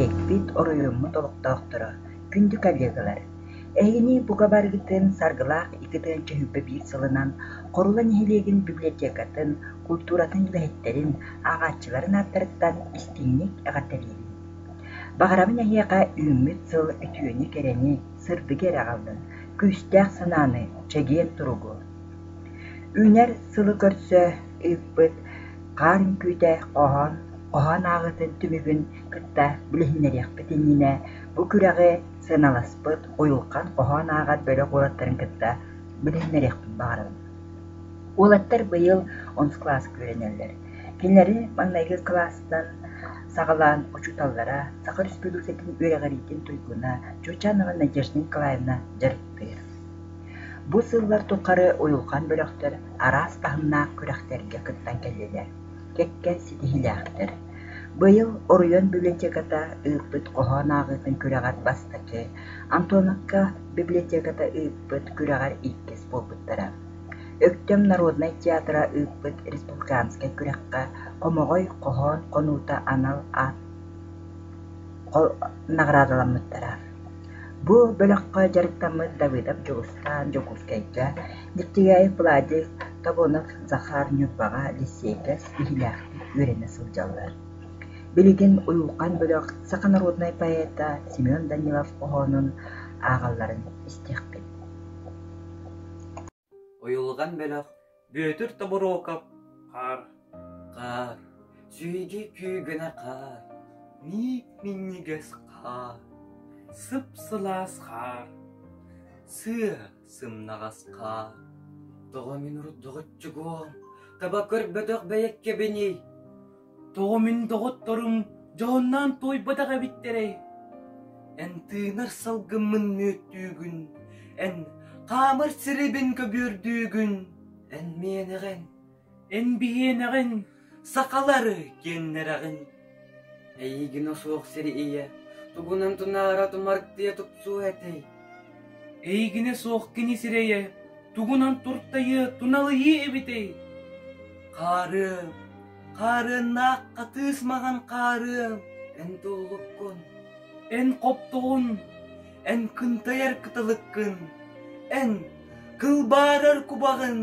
Эппит оройуоммут олохтоохторо, күндү коллегалар, эһиги бука барыгытын Саргылаах иккитин чөһүппэ биир сылынан Хорула нэһилиэгин библиотекатын, култууратын үлэһиттэрин, ааҕааччыларын ааттарыттан истиҥник эҕэрдэлиибин. Баҕарабын эһиэхэ үүммүт сыл үтүөнү-кэрэни, сырдыгы эрэ аҕаллын, күүстээх санааны, чэгиэн туругу. Үүнэр сылы көрсө ыыппыт хаар үҥкүүтэ хоһоон хоһоон ааҕыытын түмүгүн кытта билиһиннэриэхпит иннинэ бу күрэҕи сыаналаспыт Уйулҕан хоһоон ааҕар бөлөх уолаттарын кытта билиһиннэриэхпин баҕарабын. Уолаттар быйыл онс-класс үөрэнэллэр. Кинилэри маҥнайгы кылаастан саҕалаан учууталлара, Саха Өрөспүүбүлүкэтин үөрэҕириитин туйгуна Чучанова Надежда Николаевна дьарыктыыр. Бу сыллар тухары Уйулҕан бөлөхтөр араас таһымнаах күрэхтэргэ кыттан кэллилэр. кэккэ ситиһиилээхтэр. Быйыл Оройуон библиотеката ыыппыт хоһоон ааҕыытын күрэҕэр бастакы, Антоновка библиотеката ыыппыт күрэҕэр иккис буолбуттара. Өктөм народнай театра ыыппыт республиканскай күрэххэ «Хомоҕой хоһоон хонуута» анал аат наҕараадаламмыттара. Бу бөлөххө дьарыктаммыт Давыдов Дьулустаан Дьокуускайга, Дьиктиргээйи Пладик, Тобонов Захар, Ньурбаҕа, лиссиэйдэр ситиһиилээхтик үөрэнэ сылдьаллар. Билигин Уйулҕан бөлөх саха норуодунай поэта Семен Данилов-хоһоонун ааҕалларын истиэхпит Уйулҕан бөлөх Бүөтүр Тобуруокап Хаар, хаар, сүһүдьүү күү гына хаар, ниик минньигэс хаар, сып-сылаас хаар, сыа, Сымнаҕас-хаа, тоҕо мин родоҕоччугуо, таба көрбөтөх бэйэккэбиний? Тоҕо мин доҕотторум дьоһуннаан туойбатах эбиттэрэй? Эн тыынар салгыммын мүөттүүгүн, эн хаамар сирибин көбүөрдүүгүн, эн миэнэҕин, Эн биһиэнэҕин сахалары киэҥнэрэҕин Эйигинэ суох сири ийэ Тугунан тунаара тумартыйа тупсуо этэй Эйигинэ суох кини сирэйэ Тугунан туртайыа туналыйыа эбитэй Хаарыам, хаарыаннаах хатыыс маҥан хаарыам Эн толлуккун Эн хоптоҕун Эн кынтайар кытылыккын, эн кылбаарар кубаҕын.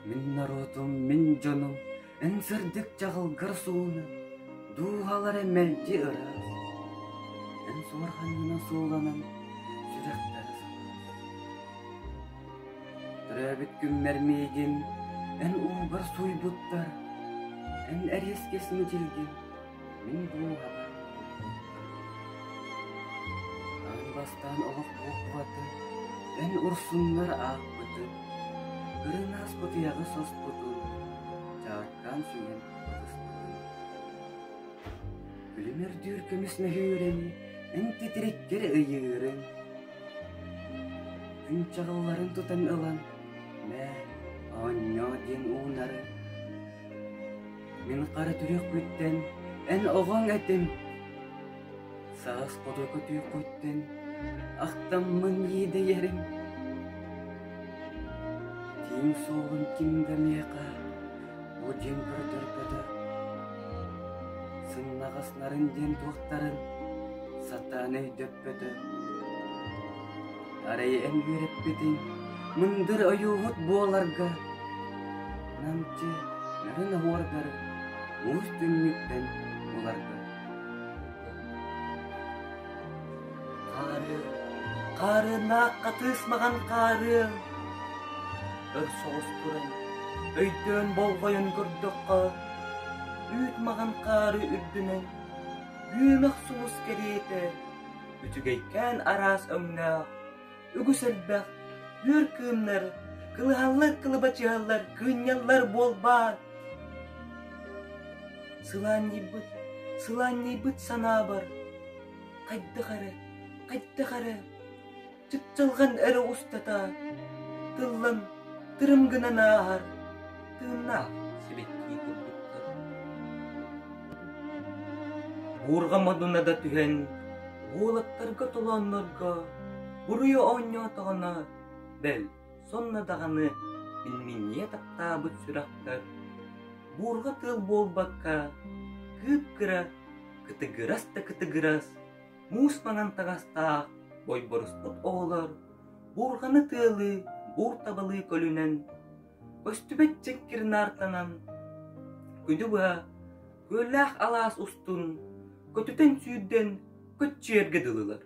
Мин норуотум, мин дьонум, эн сырдык чаҕылгар суунар, дууһалара мэлдьи ыраас. Эн суорҕанньына суоланан сүрэхтэрэ санаан. Төрөөбүт күммэр миигин, эн уугар суйбуттар, эн эриэскэс мичилгин. Мин диэн баҕар Аан бастаан олох буолбута Эн урсуннар ааппытын Көрөн ааспыт ыйаҕы соспутун Чааккаан сүҥэн ытыстыбын Күлүмэрдиир көмүс мөһүүрэни Эн титириктэр ыйыырын Күн чаҕылларын тутан ылан Мэ, оонньоо диэн уунарын Мин хара түрүөхпүттэн эн оҕоҥ этим Саас хоту көтүөххүттэн ахтаммын иэдэйэрим Тииҥ суолун ким да миэхэ бу дьиҥ көтөргөтө Сыннаҕаснарын диэн туохтарын сатаан өйдөппөтө Арай эн үөрэппитиҥ мындыр ойуоһут буоларга намчы нарын оһуордар уус түннүктэн буларга Хаарыан хаарыаннаах хатыысмаҕан хаарыан өр соҕус туран өйдөөн болҕойон көрдөххө үүт маҕан хаары үрдүнэн күөмэх сулус кэриэтэ үчүгэйкээн араас өҥнөөх, үгүс элбэх үөр кыымнар, кылыһаллар кылыбачыһаллар, кыынньаллар буолбаат? Сылаанньыйбыт, сылаанньыйбыт санаабар, хайдах эрэ, хайдах эрэ чыпчылҕан эрэ устата тыллан тырым гынан ааһар тыыннаах сибэккии курдуктар буурҕа модунада түһэн уолаттарга толооннорго буруйу оонньоотоҕуна бэл сонно даҕаны илминньийэ таптаабыт сүрэхтэр буурҕа тыыл буолбакка кыып кыра кытыгырас да кытыгырас муус маҥан таҥастаах ойборуспут оҕолор буурҕаны тыалыы, буур табалыы көлүнэн, көстүбэт дьэҥкир наартанан, күдү-быа, күөллээх алаас устун, көтүтэн сүүрдэн көччүйэргэ дылылар.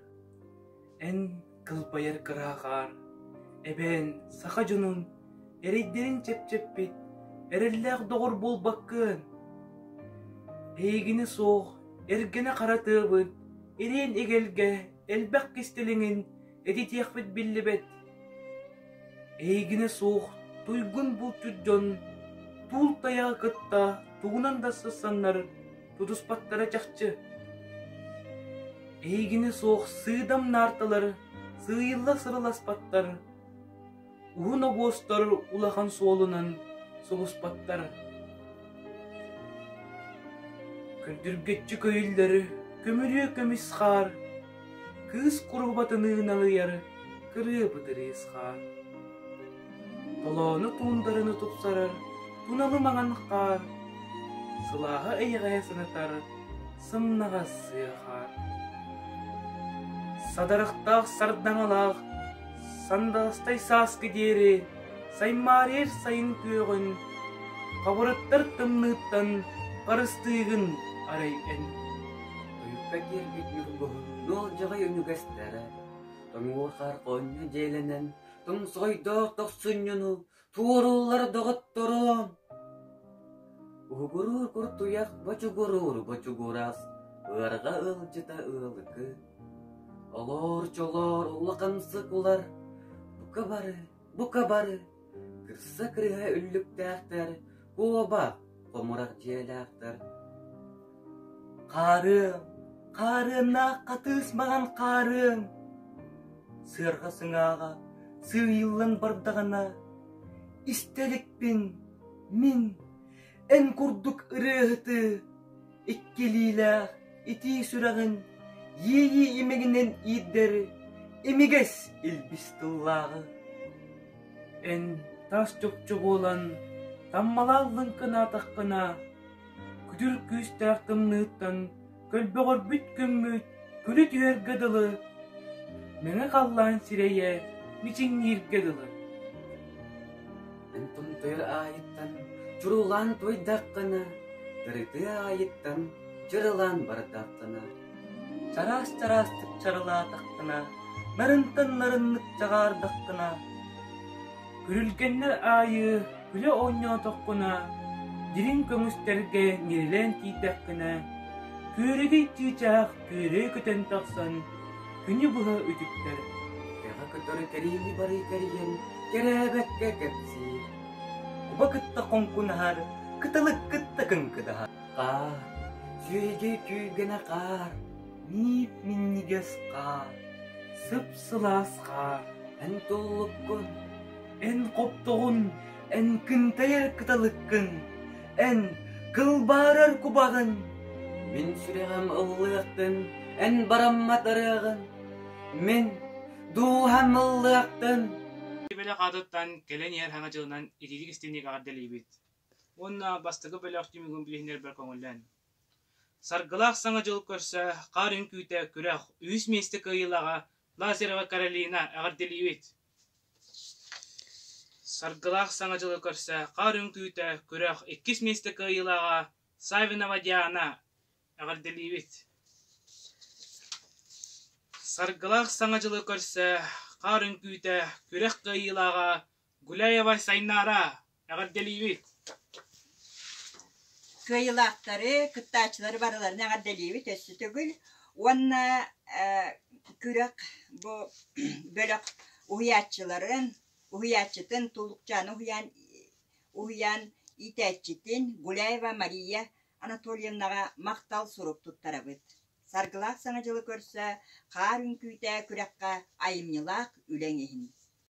Эн кылбайар кыра хаар эбээн саха дьонун эрэйдэрин чэпчэппит эрэллээх доҕор буолбаккын эйигини суох эргэнэ хара тыабын ириэн игэлгэ элбэх кистэлиҥин этитиэхпит биллибэт эйигинэ суох туйгун булчут дьон туул тайаҕы кытта тугунан да сысаннар тутуспаттара чахчы. Эйигинэ суох сыыдам наарталары сыыйылла-сырыласпаттар, уһун обуостар улахан суолунан соҕуспаттар. Күрдүргөччү көйүллэри көмүрүө көмүс хаар кыыс куруһубатыныы налыйар кырыа бытырыысхаа. Толоону туундарыны тупсарар туналы маҥан хаар, сылааһа эйэҕэһэ санатар сымнаҕас сыа хаар. Садарахтаах сардаҥалаах сандалыстай сааскы диэри саймаарыйар сайын күөҕүн хабырыттар тымныыттан харыстыыгын арай эн. Ойукка киирбит Ньургу нуолдьаҕай үнүгэстэрэ, тоҥуо хархонньо дьиэлэнэн, тоҥсойдоох тохсунньуну туорууллара доҕотторо. Уһугуруур кур туйах бочугурууру бочугурас, ыарҕа ыалдьыта ыалыкы. Олоор чолоор улахансык улар, бука бары Бука бары, кырса кырыһа үллүктээхтэр, куоба хомурах дьиэлээхтэр. Хаарыам, хаарыаннаах хатыыс маҕан хаарыаҥ! Сыарҕа сыҥааҕа сыыйыллан бардаҕына, истэ иликпин, мин эн курдук ырыаһытыы иккилиилээх итии сүрэҕин иэйии имэгинэн иирдэри имигэс илбис тыллааҕы эн тас чопчу буолан таммалааллын кынаатаххына күтүр күүстээх тымныыттан Көлбөҕөрбүт күммүт күлэ түһэргэ дылы, мэҥэ халлаан сирэйэ мичиҥнииргэ дылы. Антон тыа аайыттан чурулаан туойдаххына, тырытыы аайыттан чырылаан бардаххына, чараас-чараастык чарылаатаххына, нарынтан нарыннык чагаардаххына, Күрүлгэннэр аайы күлэ оонньоотоххуна, дириҥ көмүстэргэ ньирилээн киирдэххинэ, күөрэгэй чыычаах күөрэй көтөн тахсан, күнү быһа үтүктэр. Кэҕэ көтөр кэриэһи барыы кэрийэн, кэрээбэккэ кэпсиир. Куба кытта хоҥкунаһар, кыталык кытта кыҥкыдаһар. Хаар, сүөһүгэ түүргэнэ хаар, ниip минньигэс хаар, сып Сылаасха эн толлуккун, эн хоптоҕун, эн кынтайар кыталыккын, эн кылбаарар кубаҕын. Мин сүрэҕим ыллыахтын, эн бараммат ырыаҕын. Мин дууһам ыллыахтын. Бөлөх аатыттан кэлэн иһэр хаҥа дьылынан итиитик истиҥник эҕэрдэлиибит уонна бастакы бөлөх түмүгүн билиһиннэрбэр көҥүллэн. Саргылаах Саҥа дьыл көрсө хаар үҥкүүтэ күрэх үһүс миэстэ кыайыылааҕа Лазарева Каролина эҕэрдэлиибит! Саргылаах Саҥа дьылы көрсө хаар үҥкүүтэ күрэх иккис миэстэ кыайыылааҕа Савинова Диана эҕэрдэлиибит! Саргылаах Саҥа дьылы көрсө хаар үҥкүүтэ күрэх кыайыылааҕа Гуляева Сайнаара, эҕэрдэлиибит! кыайыылаахтары, кыттааччылары барыларын эҕэрдэлиибит өссө төгүл уонна күрэх бу бөлөх уһуйааччыларын, уһуйааччытын Тулукчаана уһуйаан, уһуйаан иитээччитин Гуляева Мария Анатольевнаҕа махтал сурук туттарабыт. Саргылаах Саҥа дьылы көрсө, хаар үҥкүүтэ күрэххэ айымньылаах үлэҥ иһин.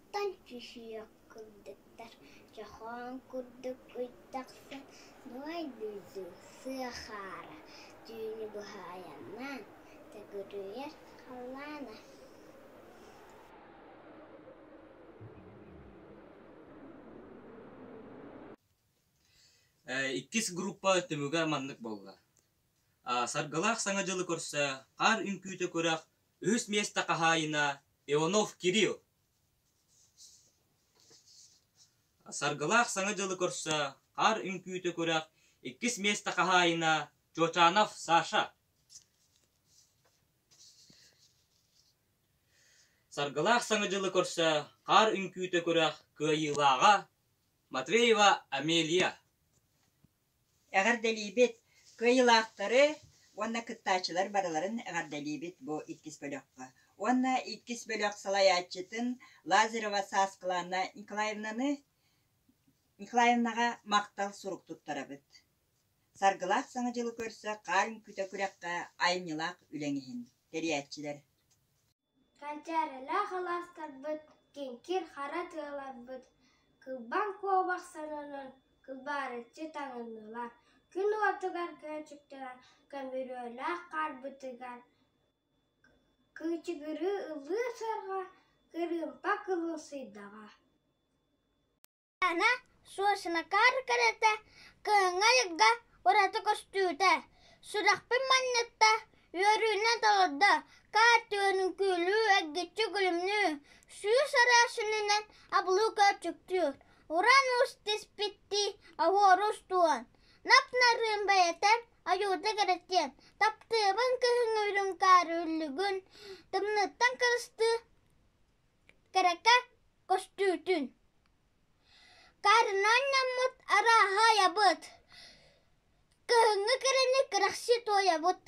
Оттон чүчүйэх курдуктар чохоон курдук ый тахсан Нуой дойду сыахаара түүнү быһаайаннаан төгүрүйэр халлаана иккис группа түмүгэ маннык буолла: Саргылаах Саҥа дьылы көрсө, Хаар үҥкүүтэ күрэх үһүс миэстэ хаһаайына Иванов Кирилл. Саргылаах Саҥа дьылы көрсө хаар үҥкүүтэ күрэх иккис миэстэ хаһаайына Чочанов Саша. Саргылаах Саҥа дьылы көрсө хаар үҥкүүтэ күрэх кыайыылааҕа Матвеева Амелия. Эҕэрдэлиибит! Кыайыылаахтары уонна кыттааччылар барыларын эҕэрдэлиибит бу иккис бөлөххө. Уонна иккис бөлөх салайааччытын Лазарева Сааскылаана Николаевнаны Николаевнаҕа махтал сурук туттарабыт. Саргылаах Саҥа дьылы көрсө хаар үҥкүүтэ күрэххэ айымньылаах үлэҥ иһин. Тэрийээччилэр Ханчаарылаах алаастарбыт, киҥкир хара тыаларбыт, кылбаҥ куобах сонунун кылбаарыччы таҥыннылар, күн уотугар көөчүктэнэн көмүрүөлээх хаарбытыгар кыычыгырыы ыллыы сырга кырыымпа кылыусыйдаҕа Суосунакаар кэрэтэ, кыһыҥҥа-айыкка ураты көстүүтэ. Сүрэхпин манньытта, үөрүүнэн толордо, каартыынын күүлүү эггиччи гүлүмнүү, сүүс араассынынан абылыы көөчүктүүр, уран уус тиспиттии аһуору устуон. Нап-нарыын бэйэтэн айуута кэрэтиэн, таптыыбын кыһыҥ үрүҥ каары үллүгүн, тымныыттан кырыстыы Кэрэкэ көстүүтүн Карнаанньаммыт арааһаайабыт Кыһыҥҥы кэрэни кэрэхсии туойабыт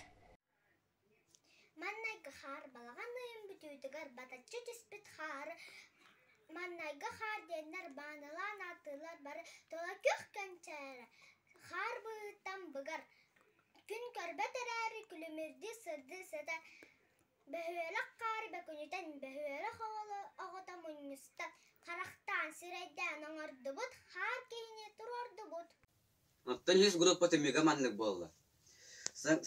Маннайгы хаар балаҕан ыйын бүтүүтүгэр батаччы түспүт хаары Маннайгы хаар диэннэр баанылаан ааттыыллар бары Тола күөх кэнчээрэ хаар быһыытынан быгар Күн көрбөт эрээри күлүмүрдүү сырдыы сэтэ Бөһүөлэк хаары бөкүнүтэн бөһүөлэк оҕоло оҕото мунньуста, харахтаан, сирэйдээн оҥордубут, хаар киһини туруордубут Оттон үһүс группата мига маннык буолла.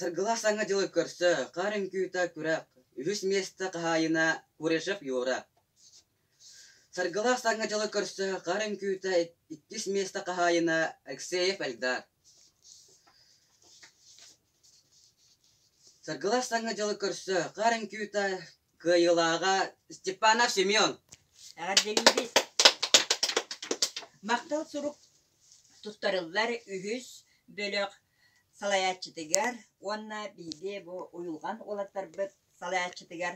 Саргылаах саҥа дьылы көрсө, хаар үҥкүүтэ күрэх, үһүс миэстэ хаһаайына Курешев Юра. Саргылаах Сааҥҥа дьылы көрсө хаар үҥкүүтэ иккис миэстэ хаһаайына Алексеев Эльдар Саргылаах Сааҥҥа дьылы көрсө хаар үҥкүүтэ кыайыылааҕа Степанов Семен Эҕэрдэлиибит! Махтал сурук тустарыллар үһүс бөлөх салайааччытыгар уонна биһиги бу уйулҕан уолаттарбыт салайааччытыгар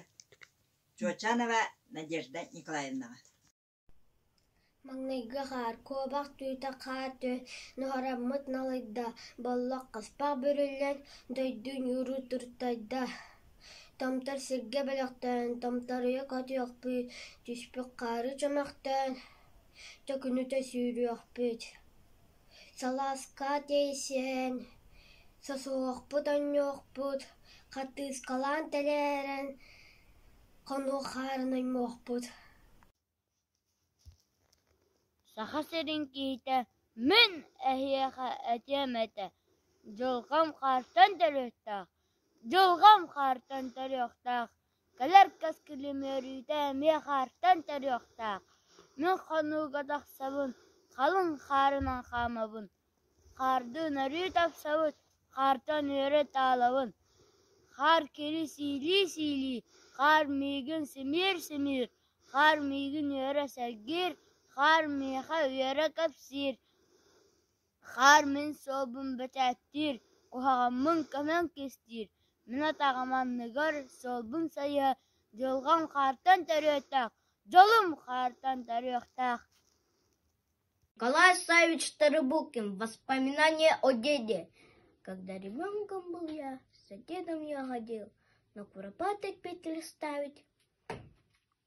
Чуочанова Надежда Николаевнаҕа Маҥнайгы хаар куобах түүтэ хаар төс нуһараммыт налыйда Боллох хаспах бүрүллэн дойду ньууру туртайда Томтор сиргэ бөлөхтөөн томторуйа көтүөхпүт Түспүт хаары чөмөхтөөн төкүнүтэ сүүрүөхпүт Салааска тиэйсэн, сосуохпут оонньуохпут, хартыыскалаан тэлээрэн, хонук хаарын оймуохпут Саха сирин киһитэ «Мин эһиэхэ этиэм этэ: дьылҕам хаартан төлүөхтээх, дьылҕам хаартан төлүөхтээх» Кэлэр кэскилим үөрүүтэ эмиэ хаартан төрүөхтээх, мин хонууга тахсабын, халыҥ хаарынан хаамабын, хаардыын өрүү тапсабыт, хаартан үөрэ таалабын, хаар кири сиилии-сиилии, хаар миигин симиир-симиир, хаар миигин үөрэ сэргиир, хаар миэхэ үөрэ кэпсиир Хаар мин суолбун бэчээттиир, куһаҕаммын көмөн кистиир, мин атаҕым анныгар суолбун сайыһа, дьылҕам хаартан төрүөттээх, дьолум хаартан төрүөхтээх Николай Савич Тарабукин «Воспоминания о деде». Когда ребенком был я, с соседом я ходил на куропаток петель ставить.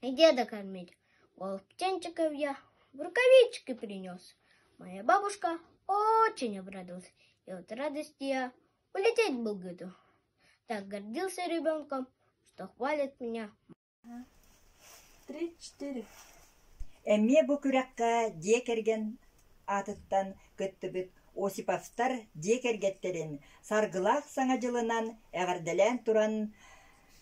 Иди докормить. Волчончиковья рукавички принес. Моя бабушка очень обрадовалась и от радости я улететь был готов. Так гордился ребенком, что хвалит меня. Три-четыре. Эмиэ бу күрэххэ дьиэ кэргэн аатыттан кыттыбыт Осиповтар дьиэ кэргэттэрин саргылаах саҥа дьылынан эҕэрдэлээн туран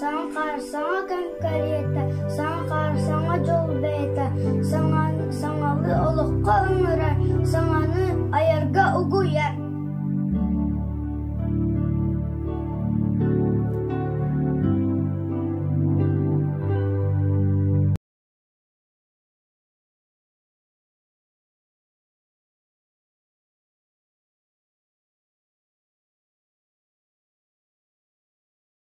Саҥа саҥа конкурета, саҥа саҥа дьол бэйэтэ, саҥа саҥаны олоххо ыҥырар, саҥаны айарга угуйар.